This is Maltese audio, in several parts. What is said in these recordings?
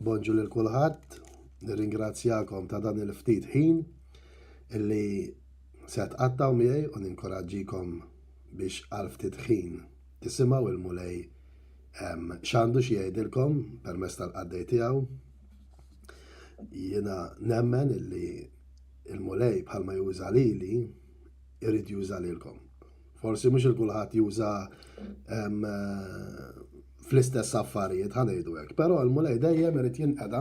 Bonġu lil kulħadd, nirringrazzjakom ta' dan il-ftit ħin illi se tqattgħu miegħi u ninkoraġġikom biex għal ftit ħin tisimgħu il-Mulej ehm, x'għandu xi jgħidilkom permezz tal-qaddej tiegħu. Jiena nemmen illi il-Mulej bħalma juża lili jrid juża lilkom. Forsi mhux il-kulħadd juża fl-istess affarijiet ħanejdu hekk, però l-mulej dejjem irid jinqeda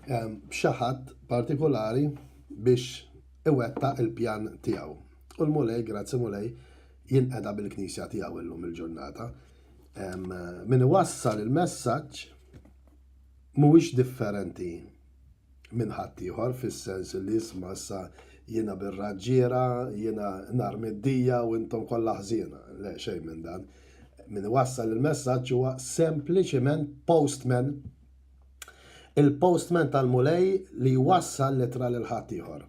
b'xi ħadd partikolari biex iwettaq il-pjan tiegħu. U l-mulej, grazzi mulej, jinqeda bil-knisja tiegħu illum il-ġurnata. Min iwassal il-messaġġ mhuwiex differenti minn ħaddieħor fis-sens li isma' issa jiena bir-raġġiera, jiena nar middija u intom kollha ħżiena. Le xejn minn dan. Min iwassal il-messaġġ huwa sempliċiment postman. Il-postman tal-mulej li jwassal litra lil ħaddieħor.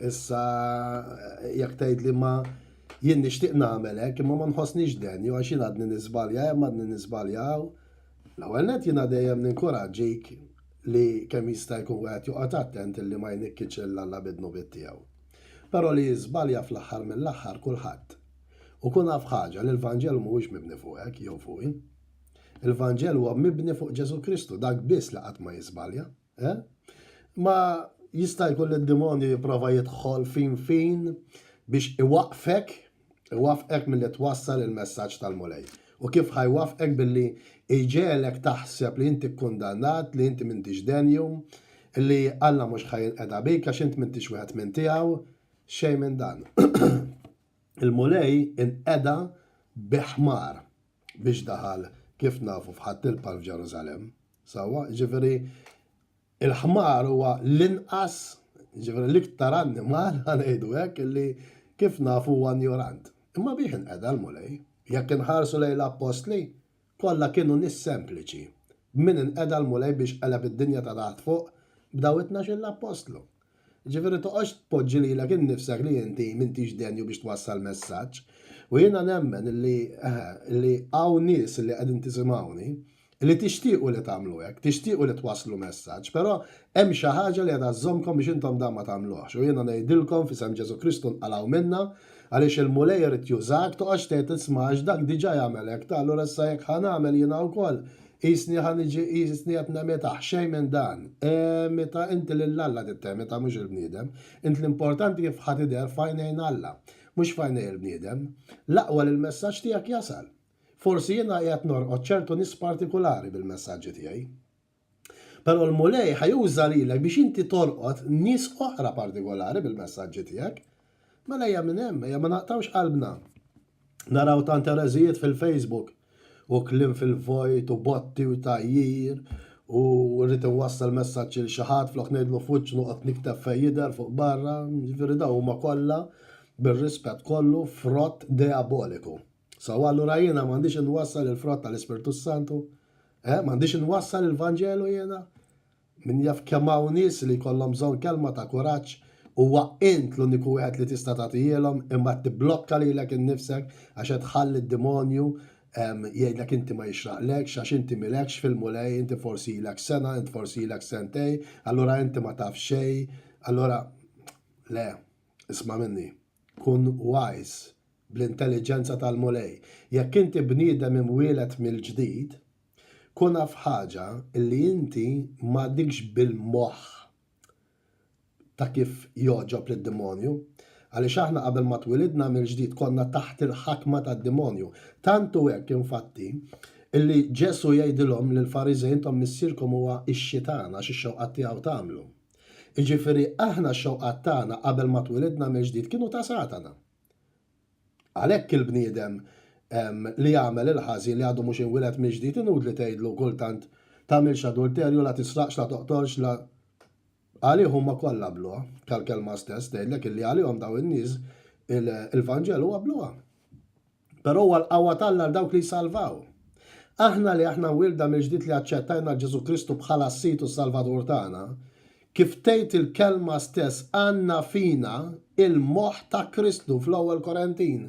Issa jekk tgħid li ma jien nixtieq nagħmel hekk imma ma nħossniex denju għax jien għadni nisbalja hemm għadni nisbalja hawn L-ewwel nett jiena dejjem ninkuraġġik li kemm jista' jkun wieħed joqgħod attent illi ma jnikkitx lil Alla bid-dnubiet tiegħu. Però li jiżbalja fl-aħħar mill-aħħar kulħadd. U kun af ħaġa li l-Vanġelu mhuwiex mibni fuqek jew fuqi. Il-Vanġelu huwa mibni fuq Ġesù Kristu, dak biss li qatt ma jiżbalja. Eh? Ma jista' jkun li d-demonju jipprova jidħol fin fin biex iwaqfek, iwaqfek mill-li twassal il-messaġġ tal-Mulej. U kif ħajwaqfek billi iġelek taħseb li inti kkundannat, li inti m'intix denju, li Alla mhux ħajinqeda bik għax int m'intix wieħed minn tiegħu, xejn minn dan. Il-Mulej inqeda bi ħmar. biex daħal kif nafu f'Ħadd il-Palm f'Ġerusalemm. Sewwa, ġifieri il-ħmar huwa l-inqas, ġifieri l-iktar annimal ngħidu hekk li kif nafu huwa njorant. Imma bih inqeda l-Mulej. Jekk inħarsu lejn l-appostli, kollha kienu nies sempliċi. Min inqeda l-Mulej biex qeleb id-dinja ta' taħt fuq b'daw it-tnax-il appostlu. Jiġifieri toqgħodx tpoġġi lilek innifsek li inti m'intix denju biex twassal messaġġ. U jiena nemmen li, eħe, li hawn nies li qegħdin tisimgħuni li tixtiequ li tagħmlu hekk, tixtiequ li twasslu messaġġ, però hemm xi ħaġa li qiegħda żżommkom biex intom dan ma tagħmluhx. U jiena ngħidilkom f'isem Ġesù Kristu nqalgħu minnha, għaliex il-Mulej irid jużak, toqgħodx tgħid isma' għax dak diġà jagħmel hekk, ta' allura issa jekk ħa nagħmel jiena wkoll, Qisni ħa niġi, qisni qed nemitah, xejn minn dan. Emitha inti lil Alla trid temitha mhux il-bniedem. Int l-importanti kif ħa tidher f'għajnejn Alla, mhux f'għajnej il-bniedem. L-aqwa li l-messaġġ tiegħek jasal. Forsi jiena qiegħed norqod ċertu nies partikulari bil-messaġġi tiegħi. Però l-Mulej ħa juża lilek biex inti torqod nies oħra partikolari bil-messaġġi tiegħek. Mela ejja minn hemm, ejja ma naqtgħux qalbna. Naraw tant ereżijiet fil-Facebook u kliem fil-vojt u botti u tgħajjir u rrid inwassal messaġġ lil xi ħadd flok ngħidlu f'wiċċ noqgħod nikteb fejn jidher fuq barra, jiġifieri dawn huma kollha bir-rispett kollu frott deaboliku. Sawa allura jiena m'għandix inwassal il-frott tal-Ispirtu Santu? Eh, m'għandix inwassal il-Vanġelu jiena? Min jaf kemm hawn nies li jkollhom bżonn kelma ta' kuraġġ, huwa int l-uniku wieħed li tista' tagħtihielhom imma qed tibblokka lilek innifsek għax qed tħalli d-demonju jgħidlek inti ma jixraqlekx għax inti m'ilekx fil-Mulej, inti forsi ilek sena, int forsi ilek sentejn, allura inti ma taf xejn, allura le, isma' minni, kun wise bl-intelliġenza tal-Mulej. Jekk inti bniedem imwieled mill-ġdid, Kun af ħaġa li inti m'għadikx bil-moħħ ta' kif jogħġob lid-demonju. Għaliex aħna qabel ma twilidna mill-ġdid konna taħt il-ħakma tad-demonju. Tant hu hekk infatti li Ġesù jgħidilhom lill-Fariżej intom missierkom huwa x-Xitan għax ix-xewqat tiegħu tagħmlu. Jiġifieri aħna x-xewqat tagħna qabel ma twilidna mill-ġdid kienu ta' Satana. Għalhekk il-bniedem li jagħmel il-ħażin li għadu mhux inwieled mill-ġdid inutli tgħidlu kultant, Tagħmilx adulterju, la tisraqx, la toqtolx, la. Għalih huma kollha bluha. Tal-Kelma stess tgħidlek illi għalihom dawn in-nies il-Vanġelu huwa bluha. Però huwa l-qawwa t'Alla għal dawk li jsalvaw. Aħna li aħna mwielda mill-ġdid li aċċettajna lil Ġesù Kristu bħala s-Sid u s-Salvatur tagħna, Kif tgħid il-kelma stess għandna fina l-moħħ ta' Kristu fl-Ewwel Korentin.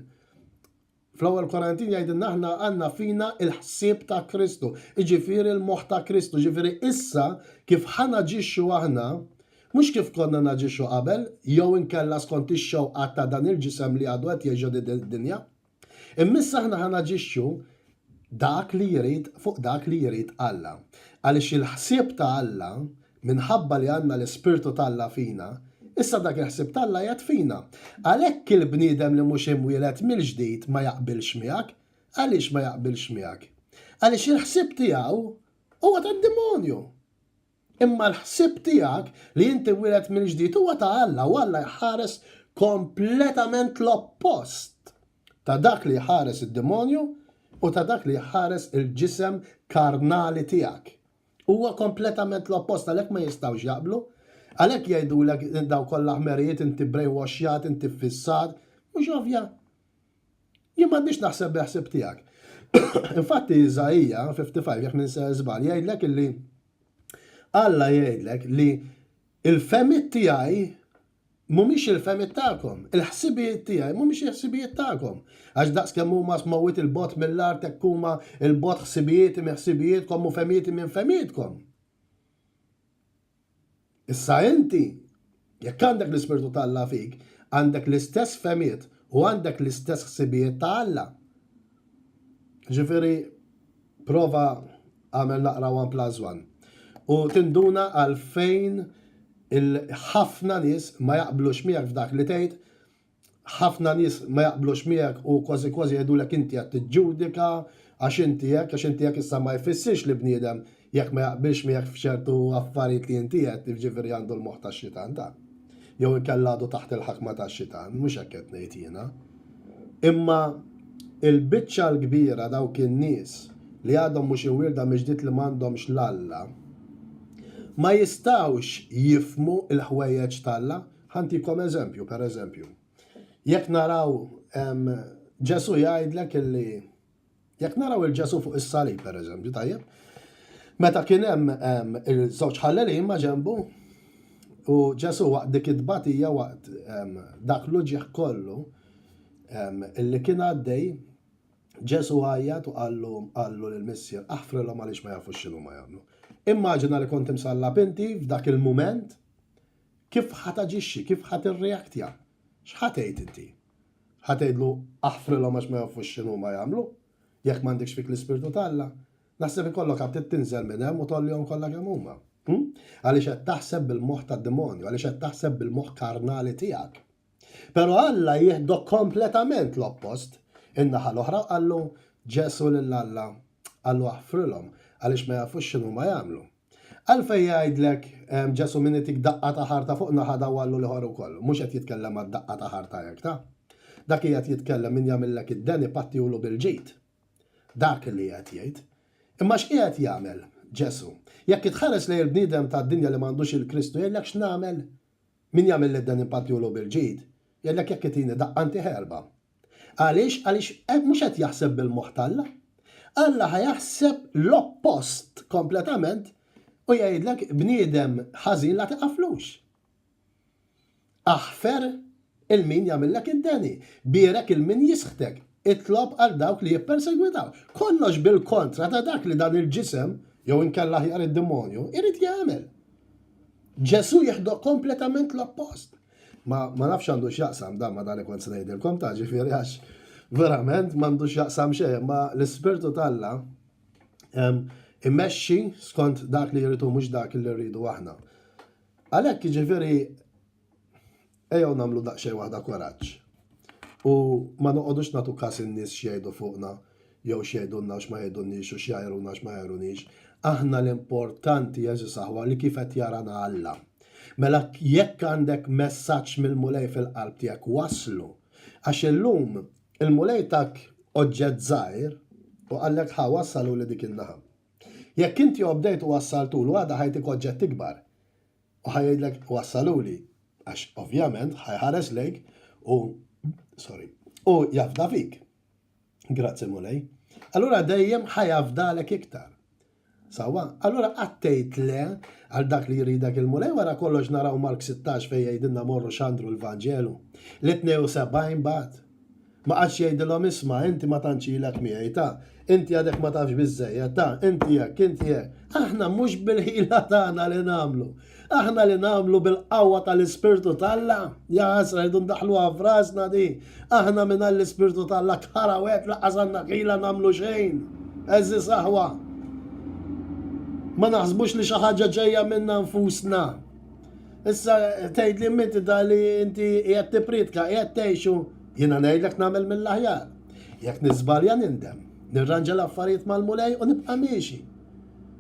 Fl-Ewwel Korentin jgħidilna aħna għandna fina l-ħsieb ta' Kristu, jiġifieri l-moħħ ta' Kristu, jiġifieri issa kif ħa naġixxu aħna, mhux kif konna naġixxu qabel jew inkella skont ix-xewqat ta' dan il-ġisem li għadu qed jgħix din id-dinja. Immissa aħna ħa naġixxu dak li jrid fuq dak li jrid Alla. Għaliex il-ħsieb ta' Alla, minħabba li għandna l-Ispirtu t'Alla fina, issa dak il-ħsieb t'Alla qiegħed fina. Għalhekk il-bniedem li mhux imwieled mill-ġdid ma jaqbilx miegħek. Għaliex ma jaqbilx miegħek? Għaliex il-ħsieb tiegħu huwa tad-demonju. Imma l-ħsieb tiegħek li int tiwieled mill-ġdid huwa ta' Alla u Alla jħares kompletament l-oppost ta' dak li jħares id-demonju u ta' dak li jħares il-ġisem karnali tiegħek. Huwa kompletament l-oppost għalhekk ma jistgħux jaqblu. Għalhekk jgħidulek daw kollha ħmerijiet inti brainwashjat, inti ffissat. Mhux ovvja? Jien m'għandix naħseb bil-ħsieb tiegħek. Infatti Iżaija 55 jekk ninser żball jgħidlek illi Alla jgħidlek li il-femit tiegħi mhumiex il-femit tagħkom, il-ħsibijiet tiegħi mhumiex il-ħsibijiet tagħkom. Għax daqs kemm huma smawit il-bot mill-art hekk huma il-bot ħsibijiet minn ħsibijietkom u femijiet minn femietkom. Issa inti, jekk għandek l-Ispirtu ta' Alla fik, għandek l-istess fehmiet u għandek l-istess ħsibijiet ta' Alla. Ġifieri, prova għamel naqra one plus one. U tinduna għalfejn il-ħafna nies ma jaqblux miegħek f'dak li tgħid ħafna nies ma jaqblux miegħek u kważi kważi jgħidulek inti qed tiġġudika għax inti hekk, għax inti hekk issa ma jfissirx li bniedem jekk ma jaqbilx miegħek f'ċertu affarijiet li inti qed jiġifieri għandu l-moħħ tax-xitan ta' jew inkella għadu taħt il-ħakma tax-xitan, mhux hekk qed ngħid jiena. Imma il-biċċa l-kbira dawk in-nies li għadhom mhux iwirda miġdid li m'għandhomx l-Alla ma jistgħux jifhmu l-ħwejjeġ t'Alla Ħantikom eżempju, per eżempju, jekk naraw Ġesu jgħidlek illi jekk naraw il-Ġesu fuq is-salib, per eżempju, tajjeb, meta kien hemm il-żewġ ħallelin ma' ġembu, u Ġesu waqt dik it-tbatija waqt dak l-uġieħ kollu illi kien għaddej, Ġesu għajjat u qallu qallu lil missier aħfrilhom għaliex ma jafux x'inhu ma jagħmlu. Immaġina li kont imsallab inti f'dak il-mument Kif ħa taġixxi, kif ħa tirreaktja? X'ħa tgħid inti? Ħa tgħidlu aħfrilhom għax ma jafux x'inhuma jagħmlu? Jekk m'għandekx fik l-Ispirtu t'Alla, naħseb ikollok għad trid tinżel minn hemm u tgħollihom kollha kemm huma. Għaliex qed taħseb bil-moħħ tad-demonju, għaliex qed taħseb bil-moħħ karnali tiegħek. Però Alla jieħdok kompletament l-oppost, in-naħa l-oħra, qallu Ġesù lil Alla, qallu aħfrilhom għaliex ma jafux x'inhuma jagħmlu. Għalfejn jgħidlek Ġesù min itik daqqa ta' ħarta fuq naħa dawwallu l-ieħor ukoll? Mhux qed jitkellem għad-daqqa ta' ħarta hekk ta'. Dak qiegħed jitkellem min jagħmillek id-deni pattihulu bil-ġid. Dak li qiegħed jgħid. Imma x'qiegħed jagħmel Ġesù? Jekk itħares lejn il-bniedem tad-dinja li m'għandux lil Kristu jgħidlek x'nagħmel? Min jagħmilli d-deni npattihulu bil-ġid. Jgħidlek jekk itini daqqa ntih erbgħa. Għaliex? Għaliex mhux qed jaħseb bil-moħħ t'Alla. Alla ħa jaħseb l-oppost kompletament u jgħidlek bniedem ħażin la tiqaflux. Aħfer il-min jagħmillek id-deni, bierek il-min jisħtek, itlob għal dawk li jippersegwitaw. Kollox bil-kontra ta' dak li dan il-ġisem, jew inkella ħjar id-demonju, irid jagħmel. Ġesu jieħdu kompletament l-oppost. Ma ma nafx x'għandu x'jaqsam dan ma' dan li kont se ngħidilkom ta' ġifieri għax verament m'għandu x'jaqsam xejn, imma l-Ispirtu t'Alla imexxi skont dak li jrid hu mhux dak li rridu aħna. Għalhekk jiġifieri ejjew nagħmlu daqsxejn waħda koraġġ. U ma noqogħdux nagħtu każ in-nies x'jgħidu fuqna jew x'jgħidulna u x'ma jgħidulniex u x'jgħajruna u x'ma jgħajrunix. Aħna l-importanti, għeżież aħwa, li kif qed jarana Alla. Mela jekk għandek messaġġ mill-Mulej fil-qalb tiegħek wasslu. Għax illum il-Mulej tak oġġett żgħir u qallek ħa wassalu li dik in-naħa. Jekk inti obdejt u wassaltulu għada ħajtik oġġett ikbar. U ħajgħidlek wassaluli għax ovvjament ħajħares lejk u sorry, u jafda fik. Grazzi Mulej. Allura dejjem ħajafdalek iktar. Sawa, allura qattejt le għal dak li jridek il-mulej wara kollox naraw Mark 16 fejn jgħidilna morru xandru l-Vanġelu. Li 72 bat. Ma għadx jgħidilhom isma' inti ma tantx ilek miegħi ta' inti għadek ma tafx biżejjed ta' inti hekk, inti hekk. Aħna mhux bil-ħila tagħna li nagħmlu. Aħna li nagħmlu bil-qawwa tal-Ispirtu t'Alla? Jaħasra rridu ndaħħluha f'rasna di. Aħna mingħajr l-Ispirtu t'Alla kħara wieħed lanqas għandna ħila nagħmlu xejn. Għeżież aħwa, ma naħsbux li xi ħaġa ġejja minna nfusna. Issa tgħid li minti da li inti qiegħed tippriedka, qiegħed tgħixu, jiena ngħidlek nagħmel mill-aħjar. Jekk niżbalja nindem, nirranġa l-affarijiet mal-Mulej u nibqa' miexi.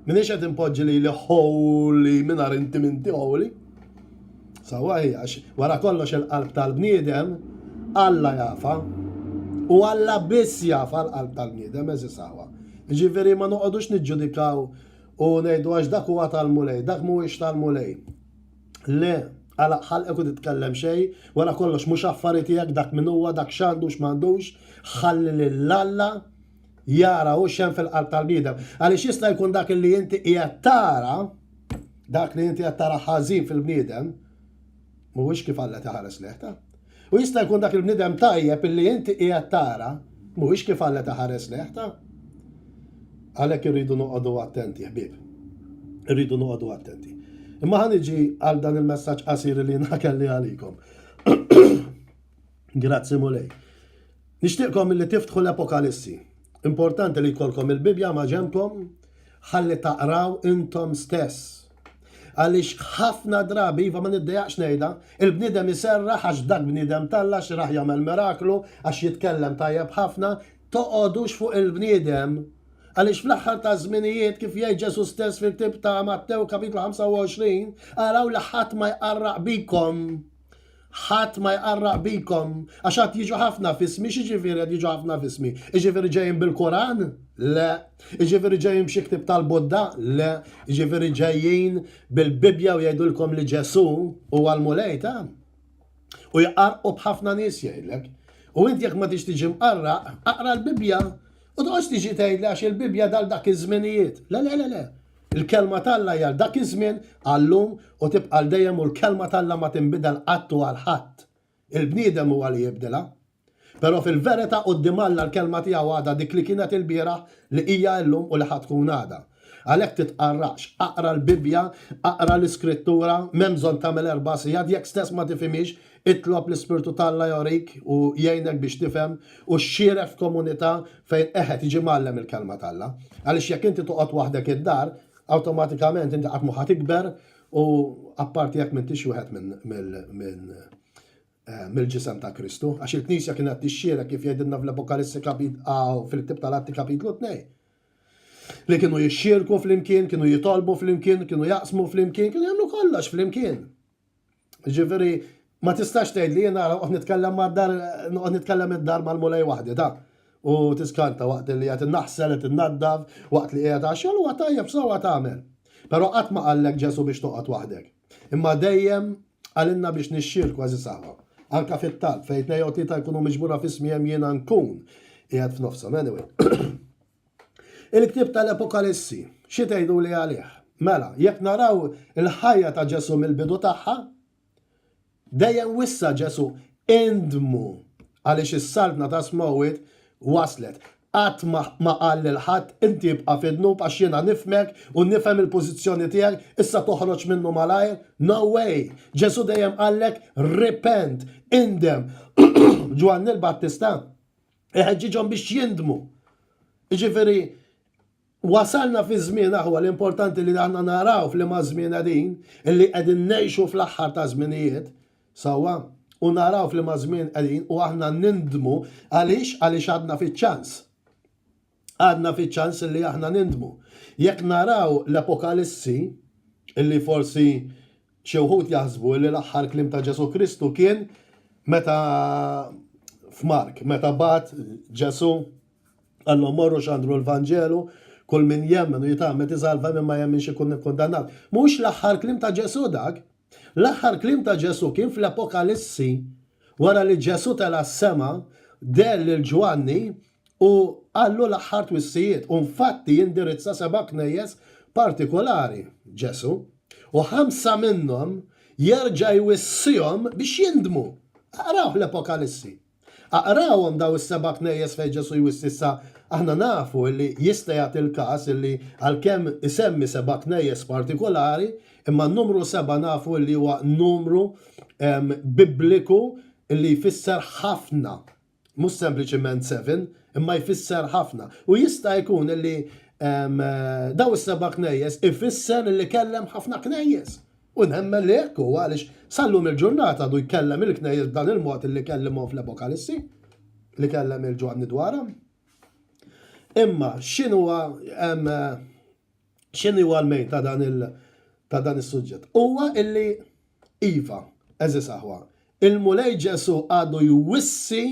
Minix qed inpoġġi lili ħoli mingħajr inti minti ħoli. Sawa għax wara kollox il-qalb tal-bniedem Alla jafa. U Alla biss jafa l-qalb tal-bniedem eżi sawa. Ġifieri ma noqogħdux niġġudikaw u ngħidu għax dak huwa tal-mulej, dak mhuwiex tal-mulej. Le, għala ħalqek u titkellem xej, wara kollox mhux affarijiet tiegħek dak min huwa, dak x'għandu x'm'għandux, ħalli lil Alla jara hu x'hemm fil-qalb tal-bniedem. Għaliex jista' jkun dak li inti qiegħed tara, dak li inti qed tara ħażin fil-bniedem, mhuwiex kif Alla taħares lejh ta'. U jista' jkun dak il-bniedem tajjeb illi inti qiegħed tara, mhuwiex kif Alla taħares lejh ta'. Għalhekk irridu noqogħdu attenti, ħbieb. Irridu noqogħdu attenti. Imma ħan iġi għal dan il-messaġġ qasir li nakelli għalikom. Grazzi mulej. Nixtieqkom illi tiftħu l-Apokalissi. Importanti li jkollkom il-Bibbja maġenbkom ħalli taqraw intom stess. Għaliex ħafna drabi, iva ma niddejaqx ngħidha, il-bniedem iserraħ għax dak bniedem t'Alla xi raħ jagħmel miraklu, għax jitkellem tajjeb ħafna, toqogħdux fuq il-bniedem, għaliex fl-aħħar taż-żminijiet, kif jgħid Ġesù stess fil-ktieb ta' Mattew, Kapitlu 25, araw li ħadd ma jqarraq bikom. ħadd ma jqarraq bikom, għax għad jiġu ħafna fismi, xieġifiri għad jiġu ħafna fismi. Iġifiri ġejjin bil-Koran? Le. Iġifiri ġejjin b'xi ktib tal-Budda? Le. Iġifiri ġejjin bil-Bibja u jgħidulkom li Ġesu u għal-Mulej ta' u jqarqu b'ħafna nies jgħidlek. U inti jekk ma tix tiġi mqarraq, aqra l-Bibja u toqgħodx tiġi tgħidli għax il-Bibja dal dak iż-żminijiet. Le, le, le, le. Il-Kelma t'Alla hi għal dak iż-żmien, għal-lum u tibqa' għal dejjem u l-Kelma t'Alla ma tinbidel qatt u għal ħadd. Il-bniedem huwa li jibdilha. Però fil-verità quddiem Alla l-Kelma tiegħu għadha dik li kienet ilbieraħ, li hija illum u li ħa tkun għada. Għalhekk titqarraqx, aqra l-Bibbja, aqra l-Iskrittura, m'hemm bżonn tagħmel erba' sigħat, jekk stess ma tifhimhiex, Itlob l-Ispirtu t'Alla jorik u jgħinek biex tifhem u xxieref f'komunità fejn qegħed jiġi mgħallem il-Kelma t'Alla. Għaliex jekk inti toqgħod waħdek id-dar, awtomatikament inti qatt mhu ħa tikber u apparti jekk m'intix wieħed minn mill-Ġisem ta' Kristu. Għax il-Knisja kienet tixxierek kif jgħidilna fl-Apokalissi kapit a u fil-Ktieb tal-Atti kapitlu tnej. Li kienu jixxierku flimkien, kienu jitolbu flimkien, kienu jaqsmu flimkien, kienu jagħmlu kollox flimkien. Ġifieri ma tistax tgħid li jiena noqgħod nitkellem mad-dar noqgħod nitkellem id-dar mal-mulej waħdi ta' u tiskanta waqt li qed innaħsel qed innaddaf waqt li qiegħed għax xogħol huwa tajjeb sewwa tagħmel. Però qatt ma qallek Ġesù biex toqgħod waħdek. Imma dejjem qalilna biex nixxierku għażiż aħwa. Anka fit-talb fejn tnejn jew tlieta jkunu miġbura f'ismi hemm jiena nkun qiegħed f'nofshom anyway. Il-ktieb tal-Apokalissi, xi tgħiduli għalih? Mela, jekk naraw il-ħajja ta' Ġesù mill-bidu tagħha, dejjem wissa Ġesù indmu għaliex is-saltna ta' smewwiet waslet. Qatt ma qal lil ħadd, inti ibqa' fid-dnub għax jiena nifhmek u nifhem il-pożizzjoni tiegħek, issa toħroġ minnu malajr. No way! Ġesù dejjem qallek repent, indem. Ġwanni l-Battista iħeġġiġhom biex jindmu. Jiġifieri wasalna fi żmien aħwa l-importanti li aħna naraw f'liema żmien qegħdin, illi qegħdin ngħixu fl-aħħar ta' żminijiet, sewwa, u naraw f'liema żmien qegħdin u aħna nindmu għaliex għaliex għadna fiċ-ċans. għadna fiċ-ċans li aħna nindmu. Jekk naraw l-Apokalissi, li forsi xi wħud jaħsbu li l-aħħar kliem ta' Ġesù Kristu kien meta f'Mark, meta bat Ġesù għallhom morru xandru l-Vanġelu, kull min jemmen u jitgħammed iżalva minn ma jemminx ikun ikkundannat. Mhux l-aħħar kliem ta' Ġesù dak, L-aħħar kliem ta' Ġesù kien fl-Apokalissi wara li Ġesù tela' s-sema, deher lil Ġwanni u qallu l-aħħar twissijiet. U nfatti jindirizza seba' knejjes partikolari Ġesù, u ħamsa minnhom jerġa' jwissihom biex jindmu. Aqrawh l-Apokalissi. Aqrawhom dawn is-seba' knejjes fejn Ġesù jwissi issa aħna nafu li jista' jagħti l-każ li għalkemm isemmi seba' knejjes partikolari, imma n-numru seba' nafu li huwa numru Bibliku li jfisser ħafna, mhux sempliċiment seven, imma jfisser ħafna. U jista' jkun li dawn is-seba' knejjes ifisser li kellem ħafna knejjes. U nemmen li hekk hu għaliex sal-lum il-ġurnata għadu jkellem il-Knejjes b'dan il-mod li kellimhom fl-Apokalissi, li kellem lil Ġwanni dwarha. Imma x'inhuwa x'inhuwa l-mejn ta' dan il- ta' dan is-suġġett. Huwa illi iva, eżis aħwa, il-Mulej Ġesu għadu jwissi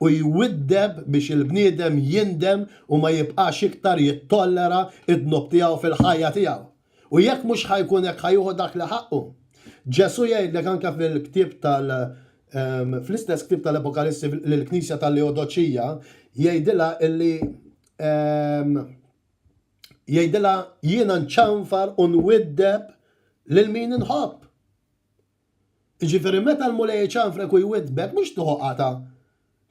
u jwiddeb biex il-bniedem jindem u ma jibqax iktar jittollera id-dnub tiegħu fil-ħajja tiegħu. U jekk mhux ħa jkun hekk ħa jieħu dak li ħaqqu. Ġesù jgħidlek anke fil-ktieb tal fl-istess ktieb tal-Apokalissi lill-Knisja tal-Leodoċija jgħidilha illi jgħidilha jiena nċanfar u nwiddeb lil min inħobb. Jiġifieri meta l-Mulej iċanfrek u jwiddbek mhux tieħu qatgħa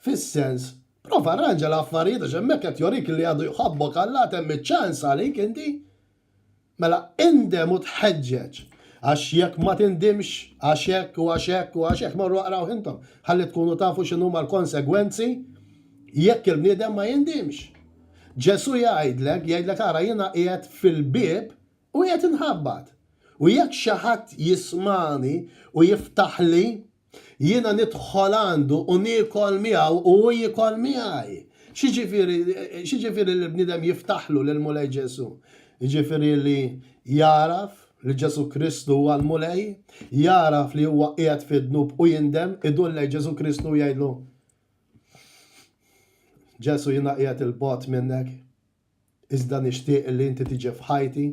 fis-sens, prova rranġa l-affarijiet għax hemmhekk qed jorik li għadu jħobbok Alla għad hemm iċ-ċans għalik inti. Mela indem u tħeġġeġ għax jekk ma tindimx għax hekk u għax hekk u għax hekk morru aqrawh intom ħalli tkunu tafu x'inhuma l-konsegwenzi jekk il-bniedem ma jindimx. Ġesù jgħidlek, jgħidlek ara jiena qiegħed fil-bieb u qiegħed inħabbat. U jekk xi ħadd jismagħni u jiftaħli, jiena nidħol għandu u niekol miegħu u hu jiekol miegħi. X'jiġifieri, x'jiġifieri li bniedem jiftaħlu lill-Mulej Ġesù? Jiġifieri li jagħraf li Ġesù Kristu huwa l-Mulej, jagħraf li huwa qiegħed fid-dnub u jindem, idur lejn Ġesù Kristu u jgħidlu, Ġesù jiena qiegħed 'il bogħod minnek, iżda nixtieq illi inti tiġi f'ħajti,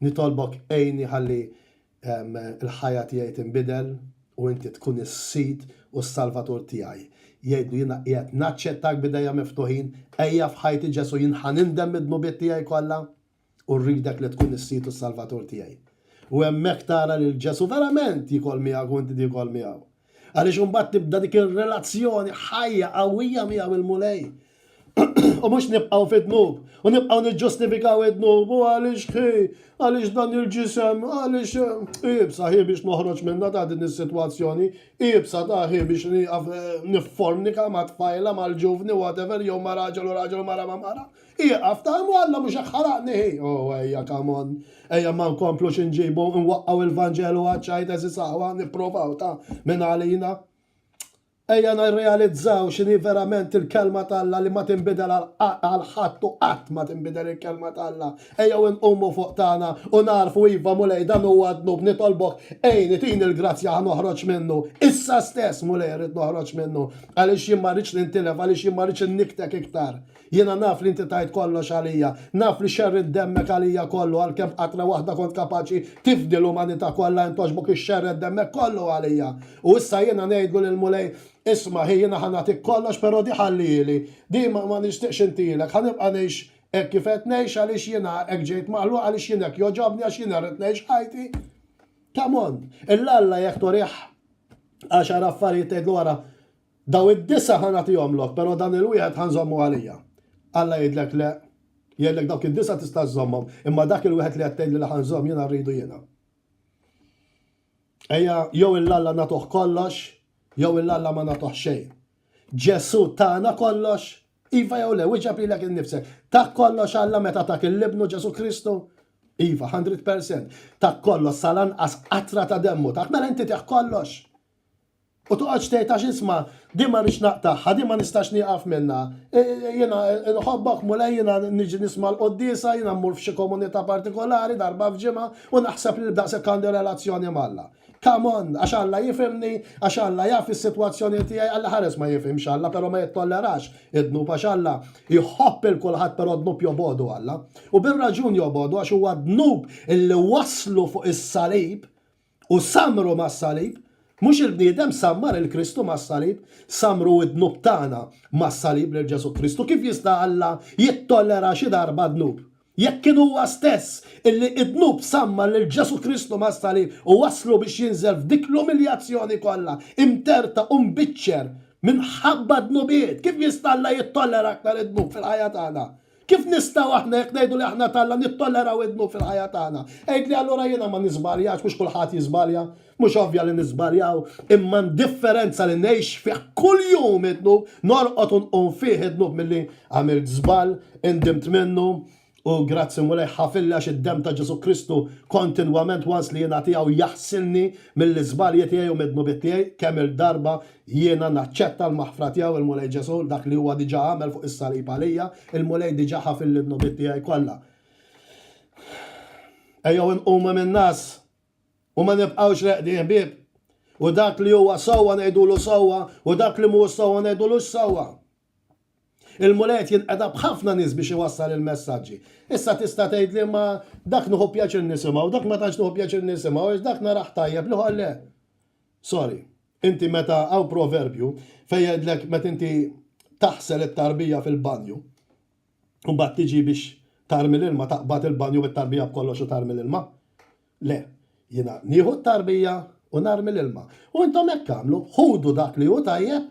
nitolbok għinni ħalli l-ħajja tiegħi tinbidel u inti tkun is-Sid u s-Salvatur tiegħi. Jgħidlu, jiena qiegħed naċċettak b'idejja miftuħin, ejja f'ħajti Ġesù jien ħa nindem mid-dnubiet tiegħi kollha u rridek li tkun is-Sid u s-Salvatur tiegħi. U hemmhekk tara lil Ġesù verament jikol miegħek u inti tikol miegħu. Għaliex imbagħad tibda dik ir-relazzjoni ħajja qawwija miegħu il-Mulej. U mhux nibqgħu fid-dnub, u nibqgħu niġġustifikaw id-dnub, u għaliex ħi, għaliex dan il-ġisem, għaliex eh, ibsa ħi biex noħroġ minna ta' din is-sitwazzjoni, ibsa ta' ħi biex nieqaf eh, niffornika ma' tfajla mal-ġuvni whatever jew ma' raġel u raġel u mara ma' mara. Ieqaf, ta' imma Alla mhux hekk ħalaqni hi! Oh, ejja, come on! Ejja ma nkomplux inġibu, nwaqqgħu il-Vanġelu għaċ-ċajt għeżież aħwa, nipprovaw, ta' min għalina. Ejja nirrealizzaw x'inhi verament il-Kelma t'Alla li ma tinbidel għal ħadd u qatt ma tinbidel il-Kelma t'Alla. Ejjew inqumu fuq tagħna u nagħrfu, iva, Mulej, dan huwa dnub, nitolbok, għinni, tini l-grazzja ħa noħroġ minnu. Issa stess, Mulej, irrid noħroġ minnu, għaliex jien ma rridx nintilef, għaliex jien ma rridx innikktek iktar. Jiena naf li inti tajt kollox għalija. Naf li xerridt demmek għalija kollu għalkemm b'qatra waħda kont kapaċi tifdi l-umanità kollha int għoxbok ixxerred demmek kollu għalija. U issa jiena ngħidlu lill-Mulej, Isma' hi jiena ħa nagħtik kollox però di ħallieli. Di ma ma nixtieqx intilek. Ħa nibqa' ngħix hekk kif qed ngħix għaliex jiena hekk ġejt maħluq għaliex jien hekk jogħġobni għax jiena rrid ngħix ħajti ta' mond. Illalla jekk turih għaxar affarijiet tgħidlu ara Dawn id-disgħa ħa nagħtihomlok, però dan il-wieħed ħa nżommu għalija. Alla jgħidlek, Le. Jgħidlek, Dawk id-disgħa tista' żżommhom, imma dak il-wieħed li qed tgħid li la ħa nżomm jiena rridu jiena. Ejja, jew il Alla nagħtuh kollox, jew il Alla ma nagħtuh xejn. Ġesù tana kollox? Iva jew le, wieġeb lilek innifsek. Tak kollox Alla meta tak il-Ibnu Ġesù Kristu? Iva, 100%. Tak kollox sal-anqas qatra ta' demmu tak, mela inti tieħ kollox. U toqgħodx tgħid għax isma' din ma rridx naqtagħha, din ma nistax nieqaf minnha. Jiena nħobbok Mulej, jiena niġi nisma' l-quddiesa, jiena mmur f'xi komunità partikolari darba f'ġimgħa u naħseb li daqshekk għandi relazzjoni m'Alla. Come on! Għax Alla jifhimni, għax Alla jaf is-sitwazzjoni tiegħi, Alla ħares ma jifhimx Alla però ma jittollerax id-dnub għax Alla jħobb lil kulħadd però d-dnub jobogħdu Alla. U bir-raġun jobogħdu għax huwa d-dnub li wasslu fuq is-salib U sammru mas-salib. Mhux il-bniedem sammar 'il Kristu mas-salib. Sammru d-dnub tagħna mas-salib lil Ġesù Kristu. Kif jista' Alla jittollera xi darba dnub? Jekk kien Huwa stess illi d-dnub sammar lil Ġesù Kristu mas-salib u wasslu biex jinżel f'dik l-umiljazzjoni kollha, imterta u mbiċċer minħabba d-dnubiet, kif jista' Alla jittollera aktar id-dnub fil-ħajja tagħna? Kif nistgħu aħna, jekk ngħidu li aħna t'Alla, nittolleraw id-dnub fil-ħajja tagħna? Għidli, allura jiena ma niżbaljax, mhux kulħadd jiżbalja? Mhux ovvja li niżbaljaw, imma ndifferenza li ngħix fih kuljum id-dnub, norqod u nqum fih id-dnub milli għamilt żball, indimt minnu, u grazzi Mulej ħafilli għax id-demm ta' Ġesù Kristu kontinwament once li jingħa tiegħu jaħsilni mill-iżbalji tiegħi u mid-dnubiet tiegħi, kemm-il darba Jiena naċċetta l-maħfra tiegħu, il-Mulej Ġesù, dak li huwa diġà għamel fuq is-salib għalija, il-Mulej diġà ħafilli d-dnubiet tiegħi kollha. Ejjew inqumu min-ngħas u ma nibqgħux reqdin ħbieb. U dak li huwa sewwa ngħidulu sewwa u dak li mhuwiex sewwa ngħidulux sewwa. Il-Mulej qed jinqeda b'ħafna nies biex iwassal il-messaġġi. Issa tista' tgħidli ma dak nieħu pjaċir nisimgħu, dak ma tantx nieħu pjaċir nisimgħu għax dak narah tajjeb, l-ieħor le. Sorry. Inti meta hawn proverbju fejn jgħidlek meta inti taħsel it-tarbija fil-banju u mbagħad tiġi biex tarmi l-ilma taqbad il-banju bit-tarbija b'kollox u tarmi l-ilma? Le. Jiena nieħu t-tarbija u narmi l-ilma. U intom hekk agħmlu, ħudu dak li hu tajjeb,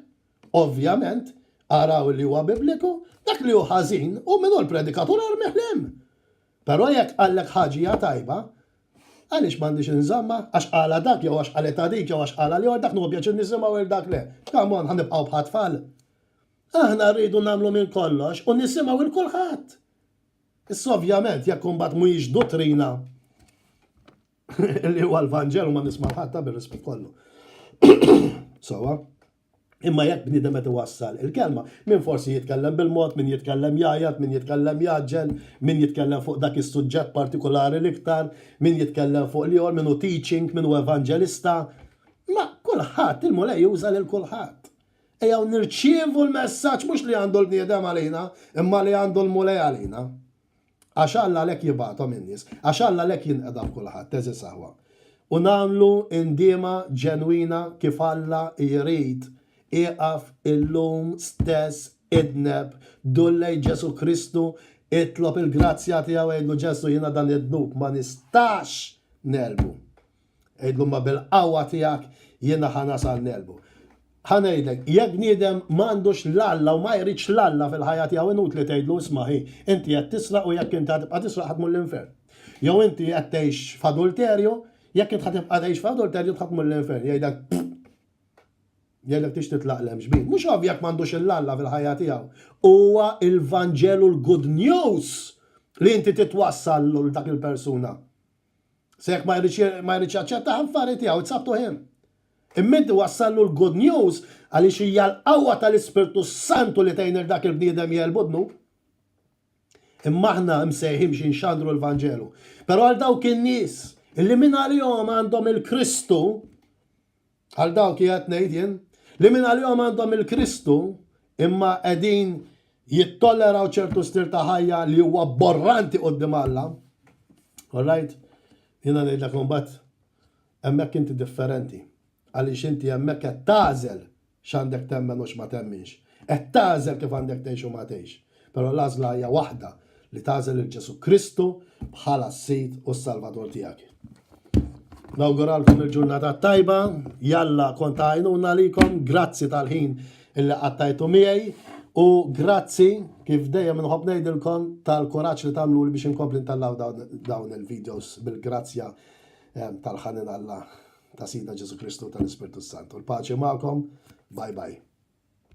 ovvjament, araw li huwa bibliku, dak li hu ħażin, u min hu l-predikatur armih 'l hemm. Però jekk qallek ħaġia tajba, għaliex m'għandix inżommha? Għax qalha dak jew għax qalitha dik jew għax qalha l-ieħor, dak nieħu pjaċir nisimgħu għir dak le. Come on, ħa nibqgħu bħat tfal? Aħna rridu nagħmlu minn kollox u nisimgħu 'il kulħadd. Issa ovvjament jekk imbagħad mhijiex duttrina li huwa l-Vanġelu ma nisma' l-ħadd ta' bir-rispett kollu. Sewwa? Imma jekk bniedem qed iwassal il-kelma, min forsi jitkellem bil-mod, min jitkellem jgħajjat, min jitkellem jgħaġġel, min jitkellem fuq dak is-suġġett partikulari l-iktar, min jitkellem fuq l-ieħor, min hu teaching, min hu evanġelista. Ma kulħadd, il-Mulej juża lil kulħadd. Ejjew nirċievu l-messaġġ mhux li għandu l-bniedem għalina, imma li għandu l-Mulej għalina. Għax Alla għalhekk jibgħathom in-nies. Għax Alla għalhekk jinqeda f'kulħadd, għeżież aħwa. U nagħmlu indiema ġenwina kif Alla jrid, ieqaf illum stess idneb, dur lejn Ġesù Kristu, itlob il-grazzja tiegħu, għidlu, Ġesù, jiena dan id-dnub ma nistax negħlbu. Għidlu ma bil-qawwa tiegħek jiena ħa nasal ngħelbu. Ħa ngħidlek, jekk bniedem m'għandux 'l Alla u ma jridx 'l Alla fil-ħajja tiegħu inutli tgħidlu isma' hi, inti qed tisraq u jekk inti ħa tibqa' tisraq ħa tmur l-infern. Jew inti qed tgħix f'adulterju, jekk int ħa tibqa' tgħix f'adulterju int ħa tmur l-infern. Jgħidlek pfff! Jgħidlek tixtieq tlaqgħaq l-emxbin. Mhux ovvja jekk m'għandux 'l Alla fil-ħajja tiegħu. Huwa l-Vanġelu l-good news li inti titwassal 'l dak il-persuna. Se jekk ma jridx ma jridx jaċċetta ħanfari tiegħu, it's up to him. Imma inti wassallu l-good news għaliex hija l-qawwa tal-Ispirtu s-Santu li tgħin lil dak il-bniedem jegħlbu d-dnub. Imma aħna msejħin biex inxandru l-Vanġelu. Però għal dawk in-nies illi mingħalihom għandhom il-Kristu, Għal dawk qiegħed ngħid jien li minn għalihom għandhom il-Kristu imma qegħdin jittolleraw ċertu stil ta' ħajja li huwa borranti qudiem Alla. Alright? Jiena ngħidlek imbagħad hemmhekk inti differenti. Għaliex inti hemmhekk qed tagħżel x'għandek temmen u x'ma temminx. Qed tagħżel kif għandek tgħix u ma tgħix. Però l-għażla hija waħda, li tagħżel lil Ġesù Kristu bħala s-Sid u s-Salvatur tiegħek. Nawguralkom il-ġurnata tajba, jalla kont għajnuna likom, grazzi tal-ħin illi qattajtu miegħi u grazzi kif dejjem nħobb ngħidilkom tal-kuraġġ li tagħmlu li biex inkompli ntallaw dawn il-videos bil-grazzja eh, tal-ħanin Alla ta' Sida Ġesu Kristu tal-Ispirtu Santu. Il-paċi magħkom, bye bye.